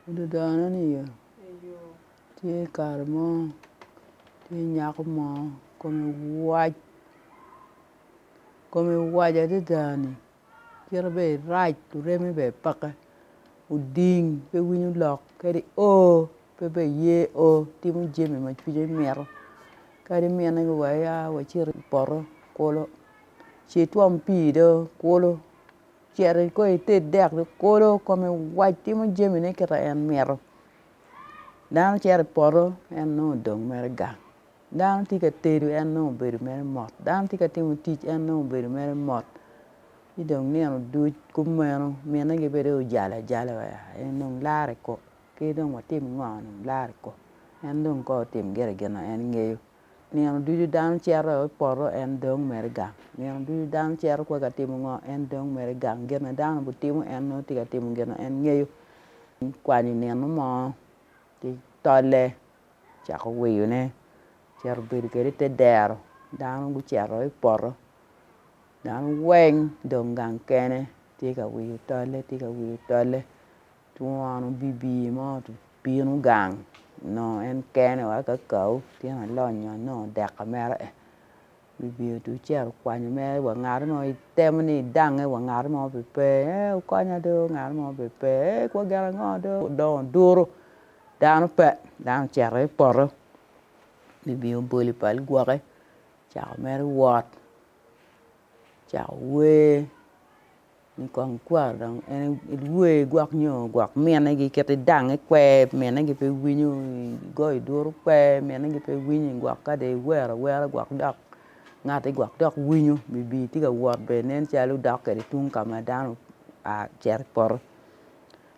Pud dano niye tye kare mo tye nyako mo kome wac kome wac adada ni kite bene irac oreme bene peke oding pe winyo lok kadi oo pe bene ye oo timo jami ma cwinye mito kadi mine ni wa ya wacit i poto kulu ci itwom pii do kulu. Cito i kor ite dek ki kolo kome wac timo jamine kit ma en mito. Dano cito i poto en nongo odong mere gang, dano tye ka tedo en nongo obedo mere mot, dano tye ka timo tic en nongo obedo mere mot ci dong nino duc kumeno mine gibedo ojalo ajala wa en dong laro i kok ki dong watim ngo dong laro i kok en dong kong otim gire gin ma en ngeyo. Nino ducu dano cito i poto en dong mere gang. Nino ducu dano cito kwai ka timo ngo en dong mere gang. Gin ma dano obitimo en nongo tye ka timo gin ma en ngeyo. Kwanyo nino mo ci tolle cako wiyone cito bedo kwede i te dero dano gucito i poto dano weng dong gang kene tye ka wiyo tolle tye ka wiyo tolle Twon obibi ma obino gang onongo en kene wa kakau tyen alonyo nongo dek ka mere en obibi otuc ci ero kwanyo mere wa ngat mo itemo ni idange wa ngat mo pe pe eeh wukonya do ngat mo pe pe eeh kor gen ango do odongo duru dano pe dano ocito i poto obibi obolo pal gwoke ocako mere wot ocako wer Kong ikwar dong en iwer igwok nyo igwok mine gi kit idang ikwer mine gi pe winyo igoyo duru kwer mine gi pe winyo igwok ka dong iwer awera gwok dok ngati gwok dok winyo bibi tye ka wot bene nen calo dok kwede tung ka ma dano oa ocito i poto.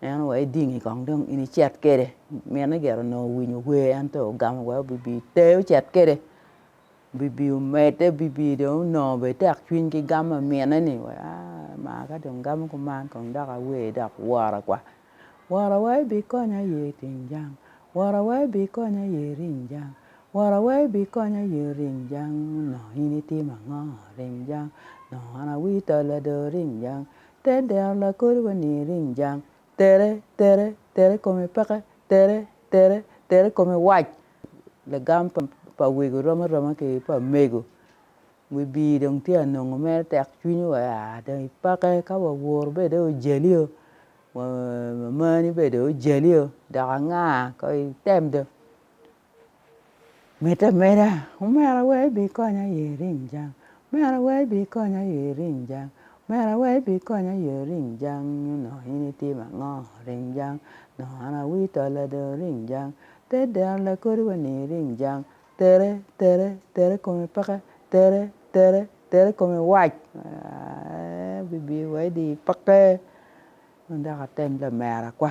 En wa idingi kong dong in icit kwede. Mine gire onongo owinyo wer en dong ogamo wai obibi i te ocit kwede. Obibi omedde obibi dong onongo bene tek cwiny ki gam pa mine ni wai aa maa ka dong gamo kuman kong dok awer dok wora kwa. Wora wai bikonya ye iting jang, wora wai bikonya ye iring jang, wora wai bikonya ye iring jang onongo in itimo ango iring jang onongo an awii tol adoo iring jang. Ter dero lakodi wa ni ering jang. Tere, tere, tere kome peke, tere, tere, tere kome wac. Lagam pa pa wego rom aroma ki pa mego wi bii dong tye anongo mere tek cwiny wa aa dong ipake ka wa woro bene dong ojali oo wa mamani bene dong ojali oo dok anga ko item dong Meda meda, Omera we ibikonya i iring jang, Omera we ibikonya i iring jang, Omera we ibikonya i iring jang nyo onongo in itimo ango iring jang onongo an awi tolla dong iring jang te deno lakodi wa ni iring jang tere tere tere kome peke tere tere tere kome wac aaii bibi wa idi peke ma dok atem lamera kwa.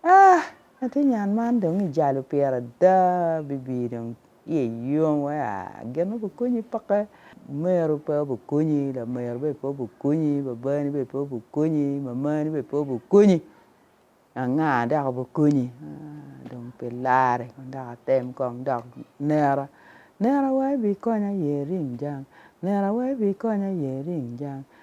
Ah! Atir nyan man dong i jalo pire ada bibi dong iye yom wai ah gin ma obukonyi peke omero pe obukonyi lamero bene pe obukonyi babani bene pe obukonyi mamani bene pe obukonyi anga dok obukonyi ah dong pe larre kong dok atem kong dok nera nera wai bikonya aye ring jang nera wai bikonya aye ring jang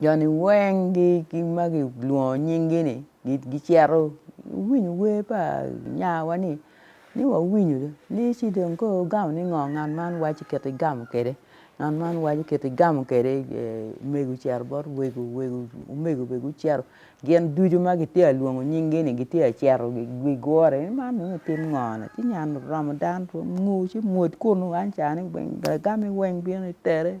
joni weng gi ma kilwongo nyingi ni gicito giwinyo wer pa nyarwa ni ni wawinyo ni ci dong koro wugamo ni ngo ngat man waco kit igamo kwede ngat man waco kit igamo kwede omego ocito bot wego wego omego bene gucito gin ducu ma kitye ka lwongo nyingi ni gitye ka cito gigure ni man dong otim ngo ni ci ngat oromo dano ngo ci mwod kunu weng ca ni weng bene gamo weng bino itere.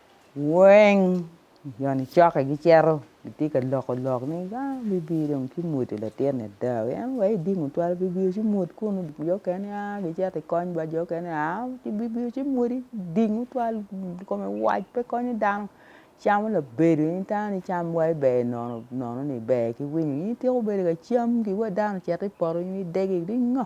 Weng jo nicokke gicito gitye ka loko lok ni dong bibino dong ki mwudo latin ni ada wi en aye odingo twal bibio ci mwud kunu jo mukene gia gicito ki kony bot jo mukene gia ci bibio ci mwudi dingo twal kome wac pe konyo dano camo labedo in tango ni cam wa iber nono nono ni iber ki winyo in ityeko bedo ka cam ki wa dano ocito i poto nyo idegi ni ngo.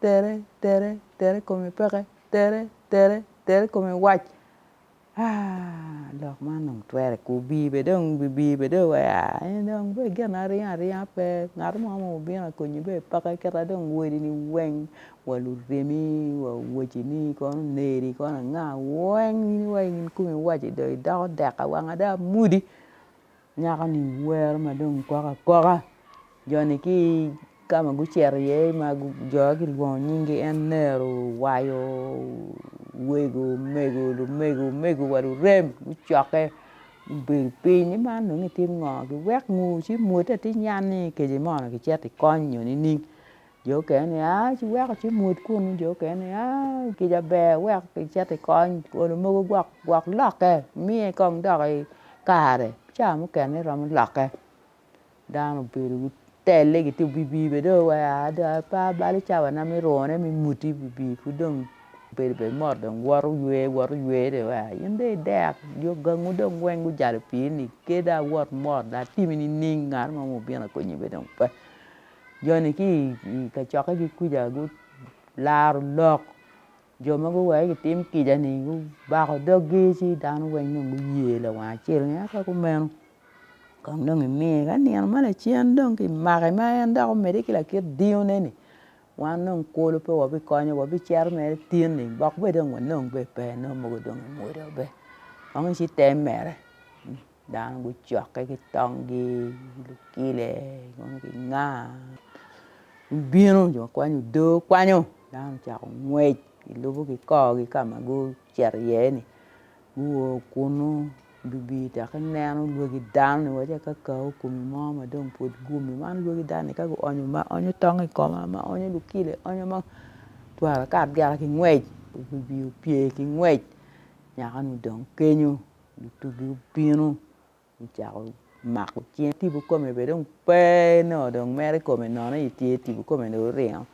Tere, tere, tere kome peke, tere, tere, tere kome wac aah lok man dong twere ko obi bene dong bibi bene dong wa eni dong bedo gin aringa aringa pe ngat mo ma obino a konyi bene peke kita dong wori ni weng wa luremi wa owaci ni kono oneri kono anga weng in wa in kome iwaco idoko dek awang ada mudi. Nyako-ni wero ma dong kwoko akoka jo-ni ki i ka ma gucito iye ma jo-ni kilwongo nying-gi en nero owayo wego omego lumego omego wa lurem gucokke gubedo piny ni man dong itim ngo giwek ngu ci mwote atir ni yan ni kece moni kicito ikony nyo nining. Jo okene ni aa ci weko ci mwodo kunu jo okene ni aa kica ber wek icit ikony olo mogo gwok gwok lokke imiye kong dok i kare ca mukene iromo lokke dano obedo gitelle gitye i wi pii bene dong wa dong aa pe balo cawana me rone me mwoddi i wi pii pud dong obedo bene mot dong woto ywe woto ywe dong wa in dong idek jo gangu dong weng gujalo i pii ni keda wot mot latimmi nining ngat mo ma obino akonyi bene dong pe. joni ki i kacokkegi kuca gularo lok jo ma guweke gitim kica-ni gubako doggi ci dano weng dong guye lawang acel ni ento kumeno kong dong imiye ka nino ma lacen dong ki make ma en dok omedde ki lakit diyone-ni wan dong kulu pe wabikonyo wabicito mere tin-ni bok bene dong wanong bene pe nongo mogo dong emwodo be kong eci te mere. dano gucokke ki tonggi lukile dong ginga gubino jo ma kwanyo odo kwanyo dano ocako ngwec gilubo ki korgi ka ma gucito iye ni guo kunu lubi dok ineno lwaki dano ni waci akakau kumi mo ma dong pud guumi man lwaki dano ni ka guonyo ma onyo tong i koma ma onyo lukile onyo ma twara ka abyela ki ngwec lubi opye ki ngwec nyakanu dong kenyo Lutugi obino gucako mako cinge tipo kome bene dong pe nongo dong mero i kome nono i tye tipo kome dong oringo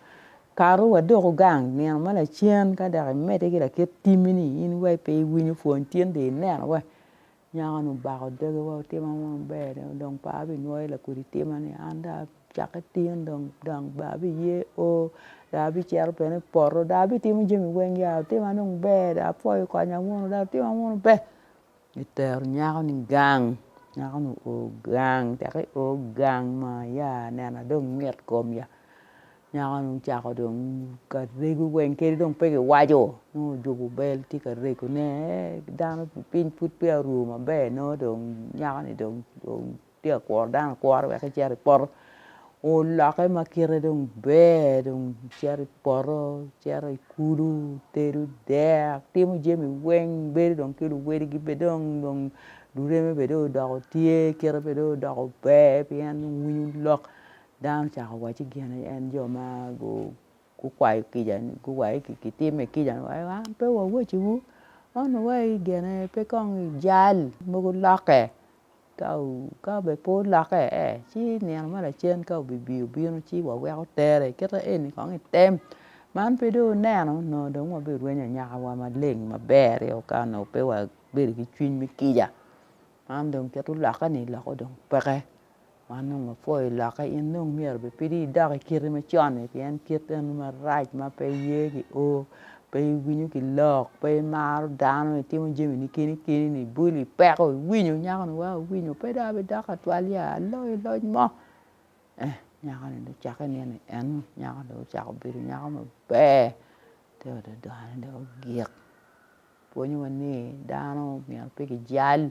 kato wa doko gang nino ma lacen ka dok imedde ki lakit timi ni in wai pe iwinyo pwony tin dong ineno wa nyako ni obako doge wa otimo ango maber dong par pinwoyo lakodi tima ni an dong Cak itin dong gang ba biye oo dong abicito bene i poto dong abitimo jami weng ya otima dong ber dong apwoyo konya munu dong otima munu ber gitero nyako ni gang nyako ni oo gang caka i oo gang maa ya nena dong mit kom ya nyako ni ocako dong ka rego weng kadi dong pe giwaco nongo ojuko bel tye ka rego ne eeh dano piny pud peya oru maber nongo dong nyako ni dong Tye ka kuro dano akura wek ecit i poto olokke ma kite dong ber dong icito i poto icito i kulu itedo dek itimo jami weng ibedo dong ki luwadigi bene dong dong lureme bene dong odoko tye kite bene dong odoko ber pien dong winyo lok dano ocako waco gin en jo ma gu gukwayo kicani guwaye ki kitime kica ni wai wan pe wawaciwu man wai gene pe kong ijal mogo lokke ka ka be pe olokke ci nino ma lacen ka obibi obino ci waweko tere kite eni kong item man pe dong oneno nongo dong wabirwenyo anyaka wa maleng maber i ot ka nongo pe wabedo ki cwiny me kica man dong kit olokke ni lokke dong peke. Man dong wapwoyo lokke in dong myero bipidi idok i kite macon-ni pien kit eno marac ma pe iye ki o pe iwinyo ki lok pe imaro dano itimo jamini keni keni-ni ibolo ipeko iwinyo nyako-ni wa owinyo pe dong abidok atwal ya aloyo loc mo eh nyako-ni dong ocakke nino en ni nyako dong ocako bedo nyako maber te ododone dong ogik pwonyowa ni dano myero pe kijal